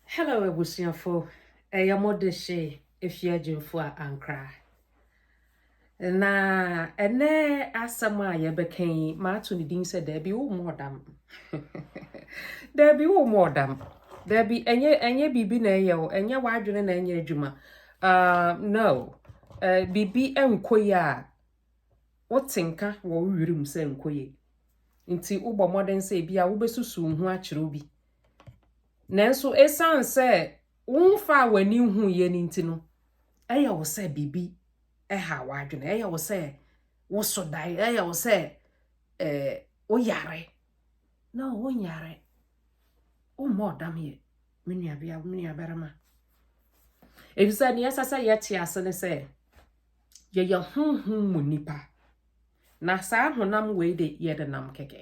Hello abusuafo, ɛyɛ mo de hye efi adwumfo a ankra. Na ɛnɛ asɛm a yɛbɛka yi, maato ne din sɛ daabi wo mu ɔdam. daabi wo mu ɔdam. Daabi ɛnyɛ ɛnyɛ biribi na ɛyɛ o, ɛnyɛ w'adwene na ɛnyɛ adwuma. Uh, no, uh, biribi nkɔ yi a wote nka wɔ wo were mu sɛ nkɔ yie nti wobɔ mmɔden sɛ ebi a wobɛsusuw ho akyerɛw bi. Nanso esiane sɛ womfa a w'ani nhu yɛ no nti no, ɛyɛ wo sɛ biribi ɛha w'adwene, ɛyɛ wo sɛ woso dae, ɛyɛ wo sɛ eh, woyare. Na wonyare, wommɔ ɔdam yɛ, me nuabea, me nuabarima. Efisɛ nea ɛsɛ sɛ yɛte ase ne sɛ, yɛyɛ honhom mu nipa na saa honam wei de yɛde nam kɛkɛ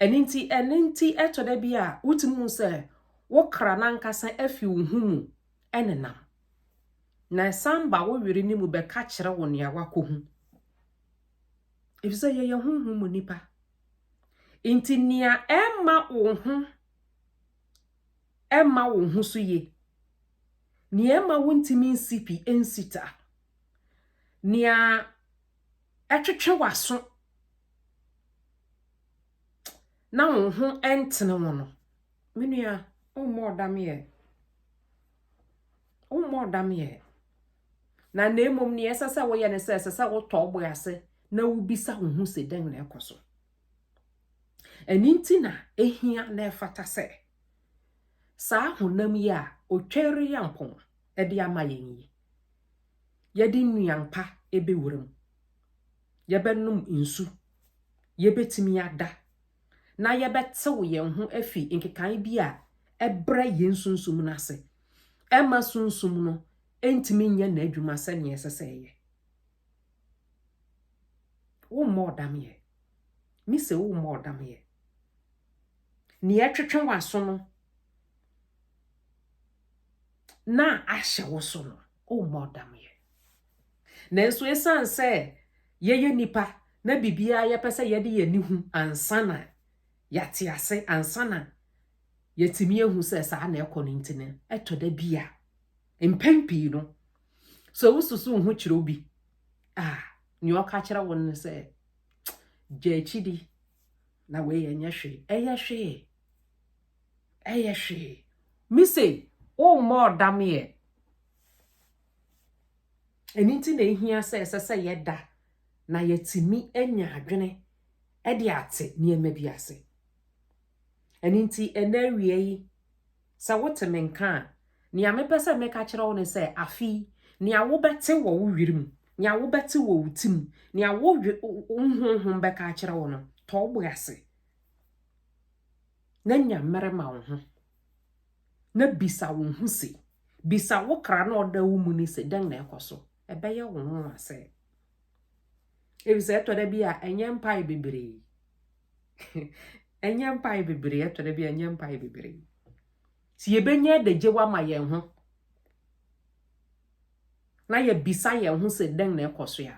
ɛno nti ɛno nti ɛtɔ da bi a wotumi hu sɛ wo kra nankasa afi wo ho mu ɛne nam na ɛsan ba wo were ne mu bɛka kyerɛ wo nea wakɔhu efisɛ yɛyɛ honhom mu nipa nti nea ɛma wo ho ɛmma wo ho so ye, nea ɛmma wuntumi nsi pi nsi ta, nea ɛtwetwe w'aso na wo ho ntene wo no, me nua, wommɔ ɔdam yɛ. Wommɔ ɔdam yɛ. Na na mmom nea ɛsɛ sɛ woyɛ ne sɛ ɛsɛ sɛ wotɔ wo bo ase na wubisa wo ho sɛ dɛn na ɛkɔ so. Ɛno nti na ehia na ɛfata sɛ saa honam yi a Otwɛre-Yampɔn de ama yɛn yi, yɛde nnuan pa bɛwura mu, yɛbɛnom nsu, yɛbɛtumi ada, na yɛbɛtew yɛn ho afi nkekae bi a ɛbrɛ yɛn sunsum no ase, ɛmma sunsum no ntumi nyɛ n'adwuma sɛnea ɛsɛ sɛ ɛyɛ. Wo mmɔ ɔdam yɛ. Me se wo mmɔ ɔdam yɛ. Nea ɛtwetwe w'aso no na ahyɛ wo so no, wo mmɔ ɔdam yɛ. Nanso esiane sɛ yɛyɛ nipa na biribiara yɛpɛ sɛ yɛde yɛn ani hu ansa na yɛate ase, ansa na yɛtumi ehu sɛ saa na ɛkɔ no nti no, ɛtɔ da bi a Mpɛn pii no, sɛ wosusuw wo ho kyerɛ obi a, nea ɔka kyerɛ wo no sɛ, gya akyidi na wei ɛnyɛ hwee. Ɛyɛ hwee. Ɛyɛ hwee. Me se, wommɔ ɔdam yɛ. Ɛno nti na ehia sɛ ɛsɛ sɛ yɛda na yɛtumi anya adwene de ate nneɛma bi ase. Ɛno nti, ɛnɛ awia yi, Sɛ wote me nka a, nea mepɛ sɛ meka kyerɛ wo ne sɛ, afei, nea wobɛte wɔ wo were mu, nea wobɛte wɔ wo ti mu, nea wo honhom bɛka akyerɛ wo no, tɔ wo bo ase na nya mmere ma wo ho, na bisa wo ho se, bisa wo kra na ɔda wo mu ne se, dɛn na ɛkɔ so? Ɛbɛyɛ wo nwonwa sɛ, efisɛ ɛtɔ da bi a ɛnyɛ mpae bebree. ɛnyɛ mpae bebree ɛtɔ da bi ɛnyɛ mpae bebree ti yɛbɛnya adagyew ama yɛn ho na yɛbisa yɛn ho sɛ dɛn na ɛkɔ so a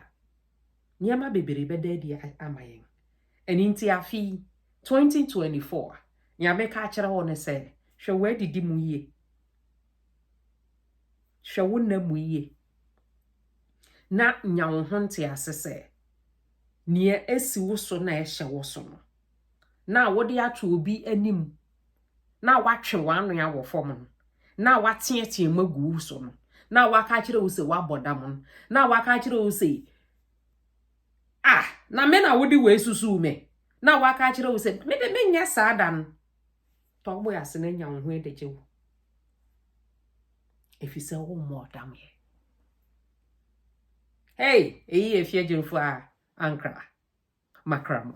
nneɛma bebree bɛda adi ama yɛn ɛno nti afe 2024 a nea meka akyerɛ hɔ no sɛ hwɛ w'adidi mu yie hwɛ wo nna mu yie na nya wo ho nte ase sɛ nea esi wo so na ɛhyɛ wo so no, na wode ato obi anim, na watwe w'ano awɔ fam no, na wateɛteɛm agu wo so no, na waka akyerɛ wo sɛ wabɔ dam no, na waka akyerɛ wo sɛ ah na me na wode wei susuw me na waka akyerɛ wo sɛ me de menyɛ saa da no tɔ wo ase na nya wo ho de gye wo efisɛ wo mmɔ dam yɛ Hey, eyi yɛ fie adwumfo a ankra makra mo.